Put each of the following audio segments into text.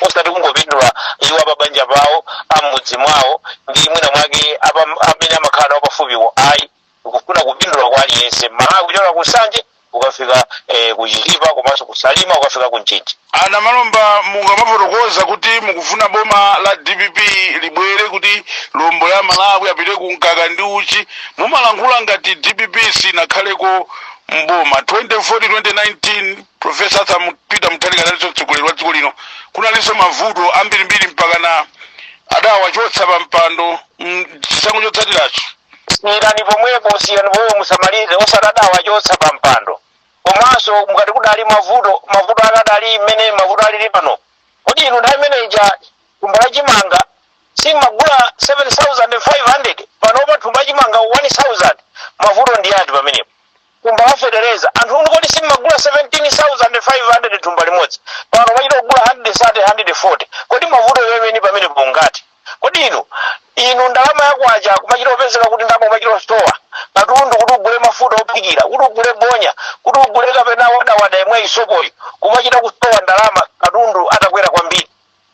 osati kungopindula iwo apabanja pawo am'mudzi mwawo ndi mwina mwake apa- amene amakhala nawo pafupiwo ayi kufuna kupindula kwa aliyense mmalawi kuchokera ku nsanje ukafika eh, ku chitipa komanso ku salima ukafika ku mchinji anamalomba mukamafotokoza kuti mukufuna boma la dpp libwere kuti lombo amalawi apite ku mkaka ndi uchi mumalankhula ngati dpp sinakhaleko mboma 2014 2019 Professor Arthur Mu- Peter Mutharika analinso mtsogoleri wa dziko lino kunalinso mavuto ambirimbiri mpakana adawachotsa pa mpando mm, chisankho chotsatiracho siyirani pomwepo siyirani pomwepo musamalize osati adawachotsa pa mpando komanso mukati kudali mavuto mavuto ake adali mmene mavuto alili pano kodi inu nthawi imene ija thumba la chimanga simmagula 7500 panopa thumba la chimanga 1000 mavuto ndi ati pamenepo thumba la fetereza anthu inu kodi simmagula 17500 thumba limodzi pano mmachita kugula 130 140 kodi mavuto enieni pamenepo ndi ati kodi inu inu ndalama yakwacha kumachita kupezeka kuti ndalama kumachita kusowa katundu kuti ugule mafuta ophikira kuti ugule bonya kuti ugule kapena wadawada imeneyi sopoyi kumachita kusowa ndalama katundu atakwera kwambiri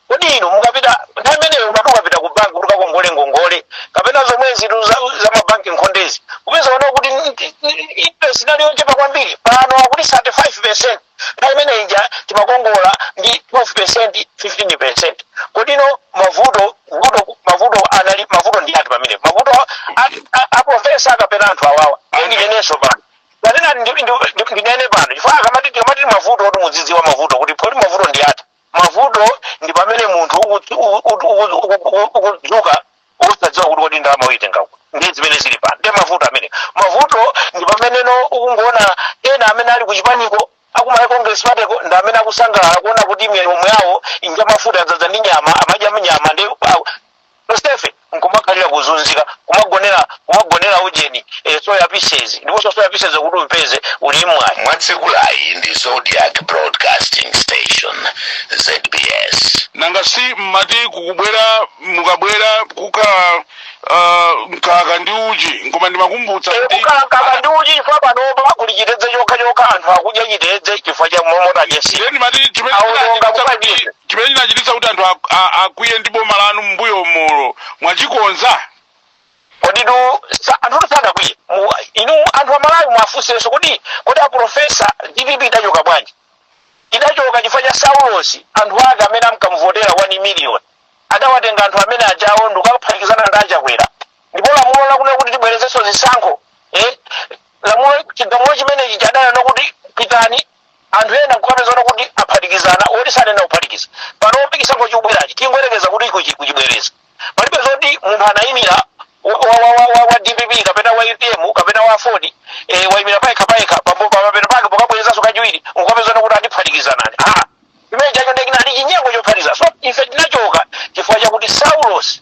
Kodi inu mukapita nthawi imeneyo umati ukapita ku banki kuti ukakongole ngongole kapena zomwezi tu za, za mabanki nkhondezi kupeza oo kuti n- n- n- interest inali yochepa kwambiri pano akuti 35 percent nthawi imene ija timakongola ndi 12 percent 15 percent kodi inu mavuto vuto mavuto anali mavuto ndi ati pamene mavuto a- a- a profesa kapena anthu awawa ndinenenso pano kanena ndi- ndi- ndi- ndinene pano chifukwa akamati tikamati ndi mavuto oti mudzidziwe mavuto kuti poti mavuto ndi ati mavuto ndi pamene munthu ukudzu- u- u- u- u- u- u- ukudzuka osadziwa kuti kodi ndalama uyitenga kuti nde zimene zili pano nde mavuto amene mavuto ndi pameneno ukungoona ena amene ali kuchipaniko aku malawi congress party ko ndi amene akusangalala kuona kuti milomo yawo ngamafuta adzadza ndi nyama amadya nyama nde tonsefe nkumakhalira kuzunzika kumagonera kumagonera ujeni eh, soya pieces ndiponso soya pieces kuti upeze uli mwayi mwatsegulayi ndi zodiac broadcasting station zbs nanga si mmati kukubwerako mukabwera kuka uh, mkaka ndi uchi koma ndimakumbutsa kuti ku mkaka ndi uchi chifukwa panopa kuli chitedze chokha chokha anthu akudya chitedze chifukwa cha mmanita chete ndiye ndimati chimene Aononga ndinachititsa kuti mukadye. chimene chinachititsa kuti anthu ak- a- akwiye ndi boma lanu m'mbuyomu mwachikonza koditu sa- anthu sadakwiye Mu- inu anthu amalawi mwafunsenso kodi kodi aprofesa dpp idachoka bwanji idachoka chifukwa cha saulosi anthu ake amene amkamuvotera 1 million adawatenga anthu amene ajawo ndikaphatikizana ndi achakwera ndipo lamulo lakuti kuti tibwerezenso zisankho eh, lamulo chigamulo chimenechi chadana chakuti pitani anthu ena nkukapezana kuti aphatikizana otsutsana kuphatikiza pano popeza chikubwerachi tingoyerekeza kuti kuchi- kuchibwereza palibe zoti munthu anayimira wa, wa, wa, wa, wa, wa dpp kapena wa utm kapena wa aford eh, wayimira payekha payekha pambo- pamapeto pake pokabwerezanso kachiwiri nkukapezana kuti atiphatikizanani ah chimene chacho nde chinali chinyengo chophatikiza so ife tinachoka chifukwa chakuti saulos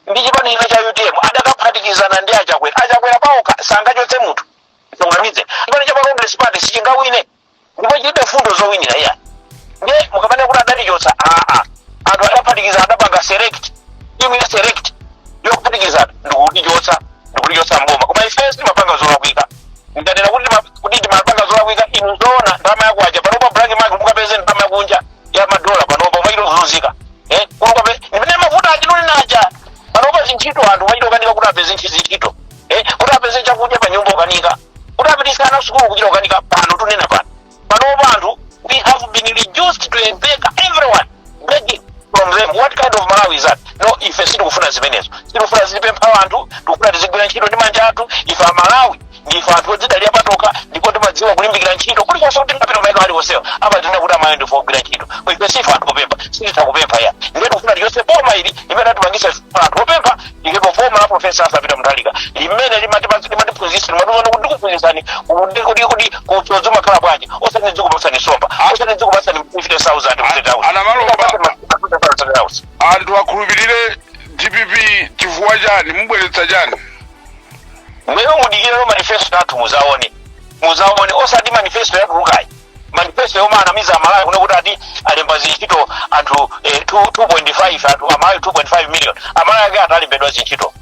ndi chipani china cha utm adakaphatikizana ndi achakwera achakwera paokha sangachotse munthu Mgwirizano. Chipani cha Congress Party sichingawine. Ndipo chilibe mfundo zowinira iya. Ndiye mukamanena kuti adatichotsa aa. Anthu adaphatikiza adapanga select. Timu ya select. Yokuphatikiza ndikutichotsa ndikutichotsa mboma. Koma ifenso timapanga zolakwika. Ndikanena kuti tima- kuti timapanga zolakwika inu zoona ndalama yakunja panopa black market mukapeze ndalama yakunja ya madola panopa umachita kuzunzika. Eh, kunkakhala. Ndimene mavuta atinuli nawo. Panopa zintchito anthu umachita kukanika kuti apeze ntchito. eh, kuti apeze chakudya pa nyumba kukanika kuti apititse ana sukulu kuchita kukanika pano tikunena pano panopa anthu we have been reduced to a beggar everyone begging from them what kind of malawi is that no ife sitikufuna zimenezo sitikufuna tizipempha anthu tikufuna tizigwira ntchito ndi manja athu ife amalawi ndife anthu odzidalira patokha ndipo timadziwa kulimbikira ntchito kulikonse komwe tingapite maiko aliwonsewo amatinena kuti amalawi ndife ogwira ntchito ife sife anthu opempha sititha kupempha iya ndiye tikufuna tichotse boma ili limene latipangitsa anthu opempha ndipo boma la profesa Arthur Peter Mutharika limene limati- limatiphunzitsa limatiuza kuti ndikuphunzitsani kuti kuti kuti usodzi umakhala bwanji osati ndizikupatsani nsomba osati ndizikupatsani 50000 Ah Amalawi a- anthu akhulupirire dpp chifukwa chani mubweretsa chani inuyo mudikireno manifesto athu mudzaone mudzaone osati manifesto yatulukayi manifesto yomwe anamiza amalawi kuno kuti ati alemba zintchito anthu eh, 2 2.5 anthu amalawi 2.5 million amalawi ake ati alembedwa zintchito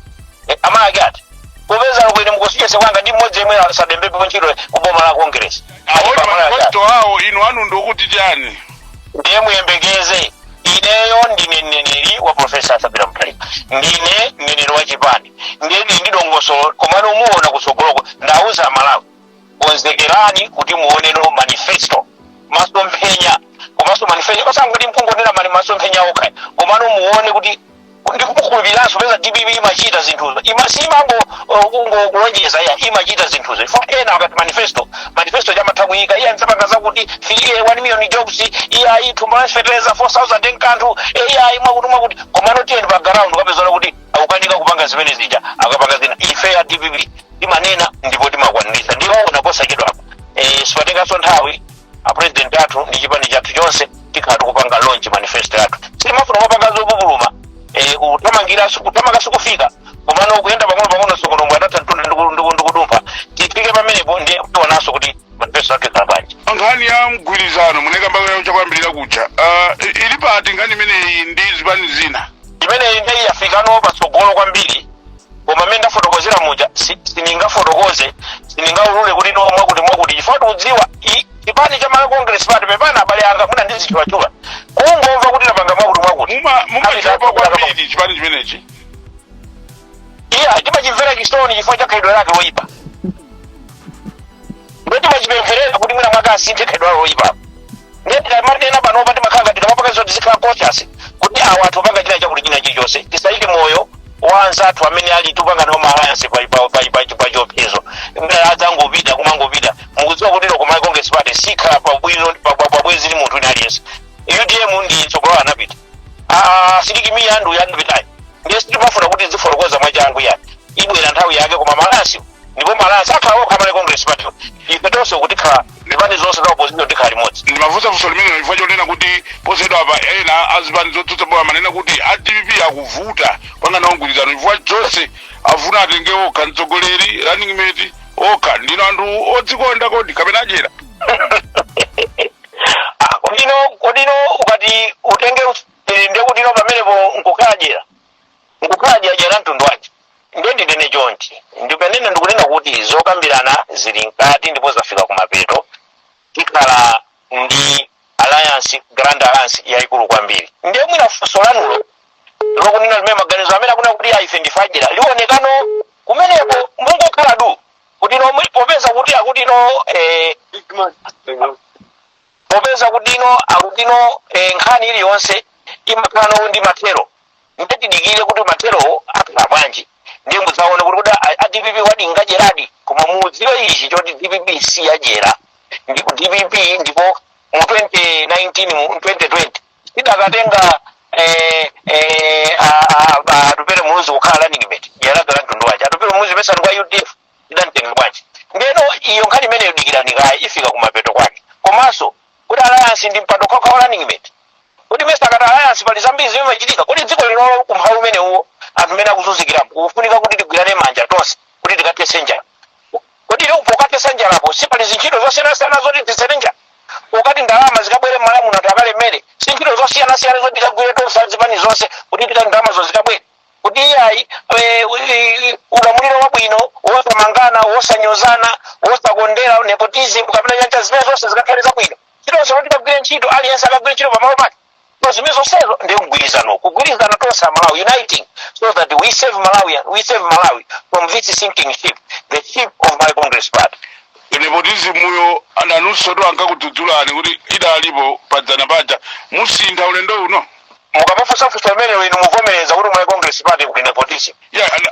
eh, amalawi ake ati popeza komwe mukundicheza pano ndi mmodzi yemwe asalembepo ntchito ku boma la congress awona Amalawi ake ati. manifesto awo inu anu ndikuti chani ndiye muyembekeze ineyo ndine mneneri wa profesa Arthur Peter Mutharika ndine mneneri wa chipani ndiye ndili ndi dongosolo komano muona kutsogoloko ndauza amalawi konzekerani kuti muoneno manifesto masomphenya komanso manifesto osangoti nkungonena mwa masomphenya okha komano muone kuti ndikukhulupiriranso popeza dpp imachita zinthuzo siimangolonjeza iya imachita zinthuzo iwo ena akati manifesto manifesto amatha kuyika iya ndzapanga zakuti filie 1 million jobs iyayi thumba la fertilizer 4000 kwacha iyayi mwakuti mwakuti komano tiyeni pa ground nkukapezana kuti akukanika kupanga zimene zija akapanga zina ife a dpp timanena ndipo timakwaniritsa ndipo muona posachedwapa eh, sipatenganso nthawi a president athu ndi chipani chathu chonse tikhala tikupanga launch manifesto yathu sitimafuna kupanga zopupuluma eh, kuthamangira kuthamanga sikufika komano kuyenda pang'ono pang'ono tsokonombwe adatha mtunda ndiku- ndiku- ndikudumpha tifike pamenepo ndiye tionanso kuti manifesto yathu ikhala bwanji nkhani ya mgwirizano munaikambako chakuyambirira kuja uh, ili pati nkhani imeneyi ndi zipani zina imeneyi nde yafikano patsogolo kwambiri koma mmene ndafotokozera muja si- sindingafotokoze sindingaulule kuti no mwakuti mwakuti chifukwa tikudziwa i- chipani cha malawi congress party pepana abale anga mwina ndizitchulatchula kungomva kuti tapanga mwakuti mwakuti Muma muma Abale chapa anga- kwambiri chipani chimenechi. iya timachimvera chisoni chifukwa cha khalidwe lake loyipa ndipo timachipempherera kuti mwina mwake asinthe khalidwe lake loyipa ndiye tikamati ena panopa timakhala ngati tikamapanga zoti tizikhala conscious kuti awa anthu opanga china chakuti china chilichonse tisayike moyo wa anzathu amene tikupanga nawo maalliance pa- pa- pa- pa- pa chiopsezo mdala adzangopita kumangopita mukudziwa kuti loko malawi congress party sikhala pabwino paubwenzi ndi munthu wina aliyense utm mtsogoleri anapita Ah, sidik mia andu yandupitayi ndiye sitimafuna kuti tizifotokoza mwachangu ya ibwera nthawi yake koma malasi ndipo malasi akhala okha a malawi congress party ife tonse kuti tikhala zipani zonse za opposition tikhala limodzi ndimafunsa funso limenelo chifukwa chonena kuti posachedwapa ena azipani zotsutsa boma amanena kuti a dpp akuvuta kupanga nawo mgwirizano chifukwa zonse afuna atenge okha mtsogoleri running mate okha ndinu anthu odzikonda kodi kapena adyera Ah, kuti no kuti no ukati utenge usiri nde kuti no pamenepo nkukhala dyera nkukhala dyera dyera mtundu wace nde ndinene chonchi ndi pamene ndikunena kuti zokambirana zili mkati ndipo zafika kumapeto tikhala ndi alliance grand alliance yayikulu kwambiri ndiye mwina funso lanulo lokunena limene maganizo amene akunena kuti aife ndife adyera lionekano kumeneko mungokhala du kuti no mwi- popeza kuti akuti no eh, popeza kuti no akuti no eh, nkhani iliyonse imakhala no ndi mathero nde tidikire kuti matherowo akhala bwanji ndiye mudzaone kuti kodi a- a dpp wadi ngadyeradi koma mudziwe ichi choti dpp si yadyera ndipo dpp ndipo mu 2019 mu 2020 tidakatenga eh, eh, a- a- a- atupere muluzi kukhala running mate yanagala mtundu wace atupere muluzi president wa udf tidamtenga bwanji ndeno iyo nkhani imeneyo dikirani kaye ifika kumapeto kwake komanso kuti alliance ndi mpando wokhawokha wa running mate kodi mesa akati alliance pali zambiri zimene zimachitika kuti dziko linoli ku umphawi umenewo anthu amene akuzunzikirapo kufunika kuti tigwirane manja tonse kuti tikathese njala Kodi inuyo pokathetsa njalako si pali zintchito zosiyanasiyana zoti ithetse njala? Pokati ndalama zikabwere m'Malawi muno anthu akalemere, si ntchito zosiyanasiyana zoti tikagwire tonse a zipani zonse kuti tikati ndalamazo zikabwere? Kuti iyayi eh, eh, ulamuliro wabwino wosamangana wosanyozana wosakondera nepotism kapena njala zimene zonse zikakhale zabwino ntchito zomwe tikagwire ntchito aliyense akagwire ntchito pamalo pake zimene zonsezo ndiye mgwirizano kugwirizana tonse a malawi uniting so that we save malawian we save malawi from this sinking ship the ship of Malawi congress party nepotizimuyo a nanunso tu ankakudzudzulani kuti idalipo padzana paja musintha ulendo uno mukamafunsafunsa amenewo inu muvomereza kuti Malawi congress party kuli nepotism ya ana-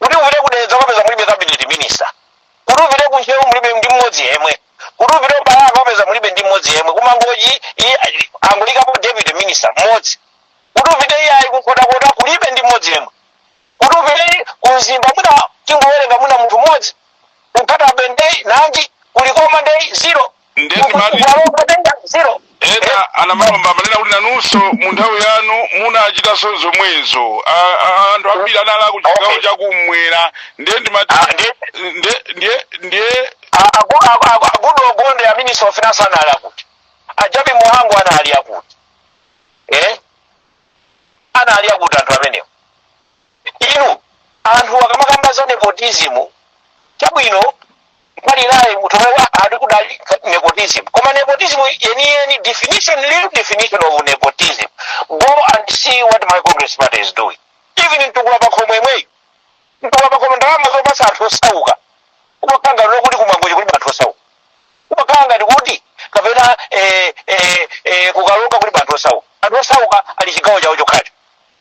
Kuti upite ku Dedza ukapeza mulibe cabinet minister. Kuti upite ku Ntcheu mulibe ndi mmodzi yemwe. Kuti upite ku Balaka ukapeza mulibe ndi mmodzi yemwe. Ku Mangochi uyo angoikapo deputy minister mmodzi. Kuti upite iyayi ku Nkhotakota kulibe ndi mmodzi yemwe. Kuti upite ku Mzimba mwina tingowerenga mwina munthu mmodzi. Ku Nkhatabay ndeyi nanji ku Likoma ndeyi zero. nde ndimati kutenga zero ena amalomba amanena kuti nanunso mu nthawi yanu munachitanso zomwezo A- a- anthu ambiri anali aku chigawo chakumwera nde ndimati Ah, ndi- nde- nde- nde a Goodall Gondwe a minister of finance anali akuti a Jappie Mhango anali akuti eh? anali akuti anthu amenewo Inu anthu akamakamba za nepotism chabwino mbali naye munthu omwe ali kudali nepotism koma nepotism yeniyeni definition real definition of nepotism go and see what Malawi congress party is doing even mtukula pakhomo imweyi mtukula pakhomo ndalama zopasa anthu osauka kumakhala ngati kuti ku Mangochi kuli anthu osauka kumakhala ngati kuti kapena eh, eh, eh, ku Karonga kuli anthu osauka anthu osauka ali chigawo chawo chokhacho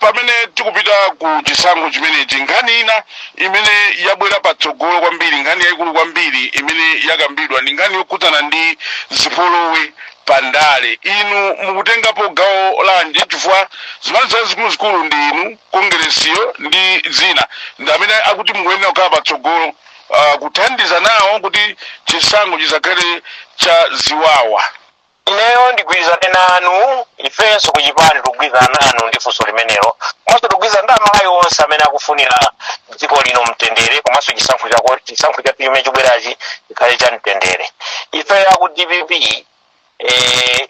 Pamene tikupita ku chisankho chimenechi, nkhani ina imene yabwera patsogolo kwambiri, nkhani yaikulu kwambiri imene yakambidwa ndi nkhani yokhudzana ndi zipolowe pa ndale. Inu mukutengapo gawo lanji? Chifukwa zipani zazikuluzikulu ndi inu, Kongeresiyo ndi zina, ndi amene akuti mukuyenera kukhala patsogolo uh, kuthandiza nawo kuti chisankho chisakhale cha ziwawa. ineyo ndigwirizane nanu ifenso kuchipani tikugwirizana nanu ndi funso limenelo komanso tikugwirizana ndi amalawi onse amene akufunira dziko lino mtendere komanso chisankho chako chisankho chimene chikubwerachi chikhale cha mtendere ife aku dpp eh,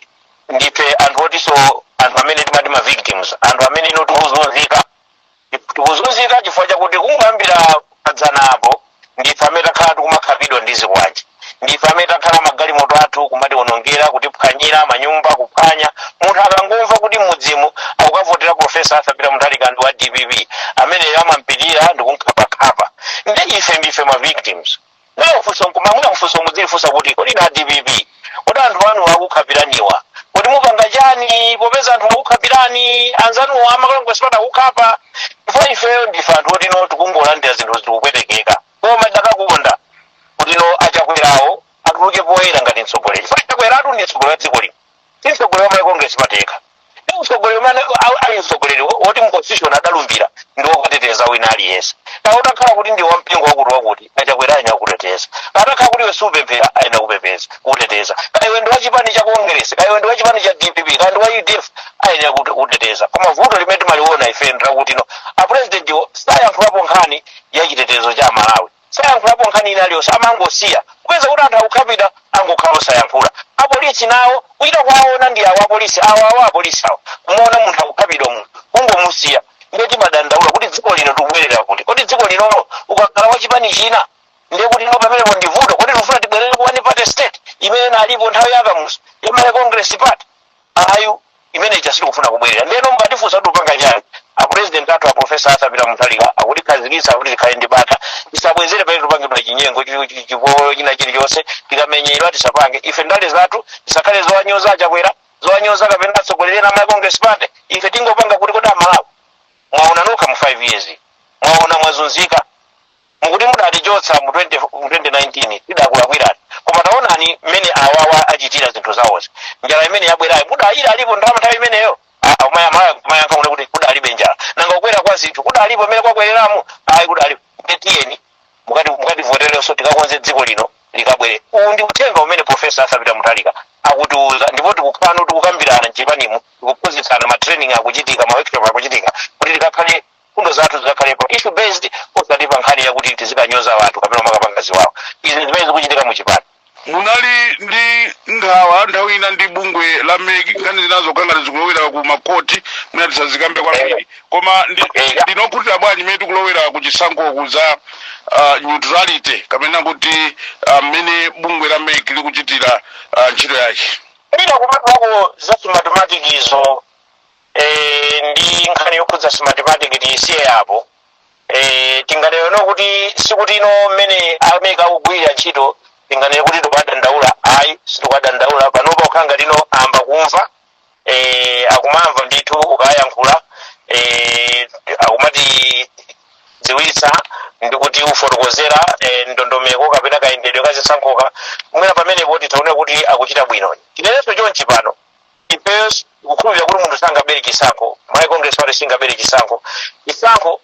ndife anthu otinso anthu amene timati ma victims anthu amene ino tikuzunzika tikuzunzika chifukwa chakuti kungoyambira padzana apo ndife amene takhala tikumakhapidwa ndi zikwanje ndife amene takhala magalimoto athu kumatiwonongera kutiphwanyira manyumba kuphwanya munthu akangomva kuti mudzi uwu akukavotera profesa Arthur Peter Mutharika ndi wa dpp ameneyo amampitira ndi kumkhapakhapa ndi ife ndife ma victims Mwina kufunsa nkuma, mwina kufunsa mudzilifunsa kuti kodi na dpp kodi anthu anu akukhapiraniwa kodi mupanga chani popeza anthu akukhapirani anzanuwo amakalongo sipata kukhapa ifeyo ndife anthu oti no tikungolandira zinthu zikupwetekeka koma tikadakonda kuti no achakwerawo atuluke poyera ngati mtsogoleri chifukwa Chakwera tu ndi mtsogoleri wa dziko lino si mtsogoleri wa malawi congress party yekha ndi mtsogoleri amene a- ali mtsogoleri wo- woti mu constitution adalumbira ndi wokateteza wina aliyense atakhala kuti ndi wampingo wakuti wakuti achakwera ayenera kukuteteza atakhala kuti iwe siupemphera ayenera kupepeza kukuteteza kaya iwe ndi wa chipani cha congress kaya iwe ndi wa chipani cha dpp kaya ndi wa udf ayenera kukuteteza koma vuto limene timaliona ife ndi lakuti no apurezidentiwo sayankhulapo nkhani ya chitetezo cha amalawi sayankhulapo nkhani ina iliyonse amangosiya kupeza kuti anthu akukhapidwa angokhala osayankhula apolisi nawo kuchita kuwaona ndi awo apolisi awo awo apolisi awo kumaona munthu akukhapidwa munthu kungomusiya ndiye timadandaula kuti dziko lino tikubwerera kuti kodi dziko linolo ukakhala wa chipani china ndiye kuti no pamenepo ndi vuto kodi tikufuna tibwerere ku one party state imene inalipo nthawi ya kamuzu ya malawi congress party Ayi, imene ija sitikufuna kubwerera. Ndeno mukatifunsa kuti mupanga chani? A president athu a Professor Arthur Peter Mutharika akutikhazikitsa kuti tikhale ndi bata. Tisabwezere pamene tupangidwa chinyengo chi- chi- chipolowe china chilichonse tikamenyedwa tisapange. Ife ndale zathu zisakhale zowanyoza achakwera, zowanyoza kapena atsogoleri ena a Congress Party. Ife tingopanga kuti kodi amalawi mwaona nokha mu 5 years mwaona mwazunzika Nkuti mudatichotsa mu 20 mu 2019 tidakulakwirani koma taonani mmene awawa achitira zinthu zawozi njala imene yabwerayo mudali ilipo ndalama nthawi imeneyo Ah, ah, maya- maya- muyankha inu kuti kudalibe njala nanga kukwera kwa zinthu kudalipo mmene kwakwereramu ayi kudalibe ndetiyeni mukati mukativoterenso tikakonze dziko lino likabwere uwu ndi uthenga umene profesa Arthur Peter Mutharika akutiuza ndipo tikuka- tikukambirana mchipanimu tikuphunzitsana matraining akuchitika maworkshop akuchitika kuti tikakhale mfundo zathu zidzakhalepo issue based osati pa nkhani yakuti tizikanyoza anthu kapena kukapanga ziwawa izi ndi zimene zikuchitika mu chipani munali ndi nkhawa nthawi ina ndi bungwe la meki nkhani zinazo zikungati zikulowera ku makoti mwina tisazikambe kwambiri koma ndi- Eya. ndinu okhutira bwanji mmene tikulowera ku chisankhoku za ah, neutrality kapena kuti ah, mmene bungwe la meki likuchitira ah, ntchito yake mwina kupatulako za smartmatic izo Eh, ndi nkhani yokhudza smartmatic tiyisiye apo eh, tingati no kuti sikuti no mmene a meki akugwirira ntchito tinganene kuti tikuwadandaula ayi sitikuwadandaula panopa kukhala ngati no ayamba kumva eh, akumamva ndithu ukayankhula eh, akumatidziwitsa ndi kutifotokozera eh, ndondomeko kapena kayendedwe ka zisankhoka mwina pamenepo titaona kuti akuchita bwino tinenenso chonchi pano ifeyo tikukhulupirira kuti munthu sangabere chisankho malawi congress party singabere chisankho chisankho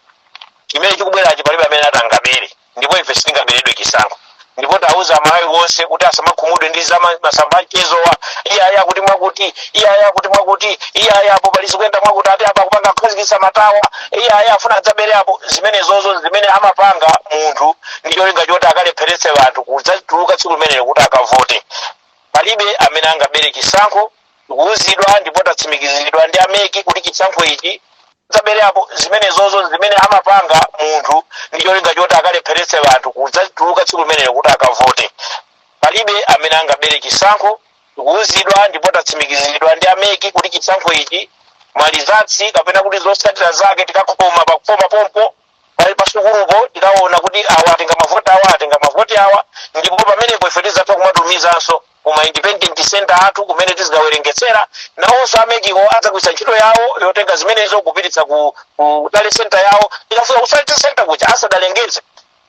chimene chikubwerachi palibe amene ati angabere ndipo ife sitingaberedwe chisankho ndipo tauza amalawi onse kuti asamakhumudwe ndi za ma- m'masamba achezowa iyaya kuti mwakuti iyaya kuti mwakuti iyaya apo pali zikuyenda mwakuti ati apa kupanga kukhazikitsa matawa iyaya afuna adzabere apo zimenezozo zimene amapanga munthu ndi cholinga choti akalepheretse anthu kudzatuluka tsiku limenelo kuti akavote palibe amene angabere chisankho tikuwuzidwa ndipo tatsimikiziridwa ndi ameki kuti chisankho ichi zabere apo zimenezozo zimene amapanga munthu ndi cholinga choti akalepheretse anthu kudzatuluka tsiku limenelo kuti akavote palibe amene angabere chisankho tikuwuzidwa ndipo tatsimikiziridwa ndi ameki kuti chisankho ichi malizatsi kapena kuti zotsatira zake tikakhoma pakufoma pompo pali pasukulupo tikaona kuti awa atenga mavoti awa atenga mavoti awa ndipo pamenepo ife tizatha kumatumizanso kuma independent center athu kumene tizikawerengetsera nawonso amekiwo adzagwiritsa ntchito yawo yotenga zimenezo kupititsa ku, ku tally center yawo tikafika ku tally center kuja asanalengeze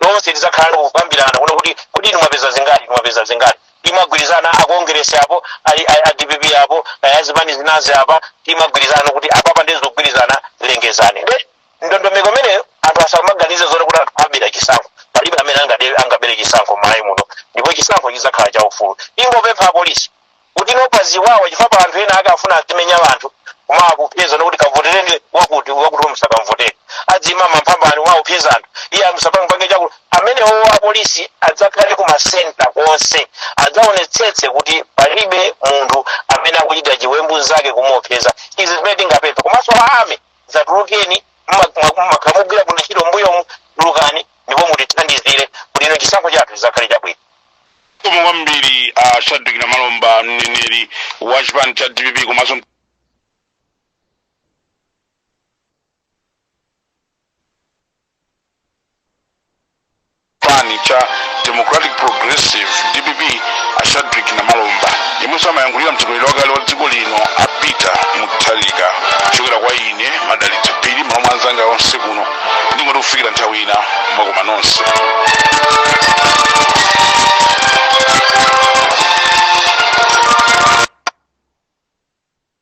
lonse tizakhala ndi kukambirana kuona kuti kuti inu mwapeza zingati inu mwapeza zingati timagwirizana akongeresi apo ali- ali- a dpp apo azipani zinazi apa timagwirizana kuti apapa ndizogwirizana lengezani Nde ndondomeko imeneyo anthu asamaganize zoti kuti anthu abera chisankho palibe amene angade- angabere chisankho m'malawi muno ndipo chisankho chizakhala cha ufulu ingopempha apolisi kuti nopa ziwawa chifukwa pali anthu ena ake afuna azimenya anthu koma akupeza nokuti kavotereni wakuti wakuti musakamvotere azimumenya waupeza anthu iye amusapange chakuti amenewo apolisi adzakhale ku masenta konse adzaonetsetse kuti palibe munthu amene akuchita chiwembu kapena kumuopseza izi zimene tingapempha komanso a ame dzatulukeni mwakhala mukugwira bwino ntchito mbuyomu tulukani ndipo mutithandizire kuti ife chisankho chathu chizakhale chabwino zikomo kwambiri a shadrack namalomba mneneri wa chipani cha dpp komanso chipani cha democratic progressive dpp a shadrick namalomba yemwenso amayankhulira mtsogoleri wakale wa dziko lino a peter mutharika kuchokera kwa ine madalitso phiri limodzi ndi anzanga onse kuno ndingoti kufikira nthawi ina mwakoma nonse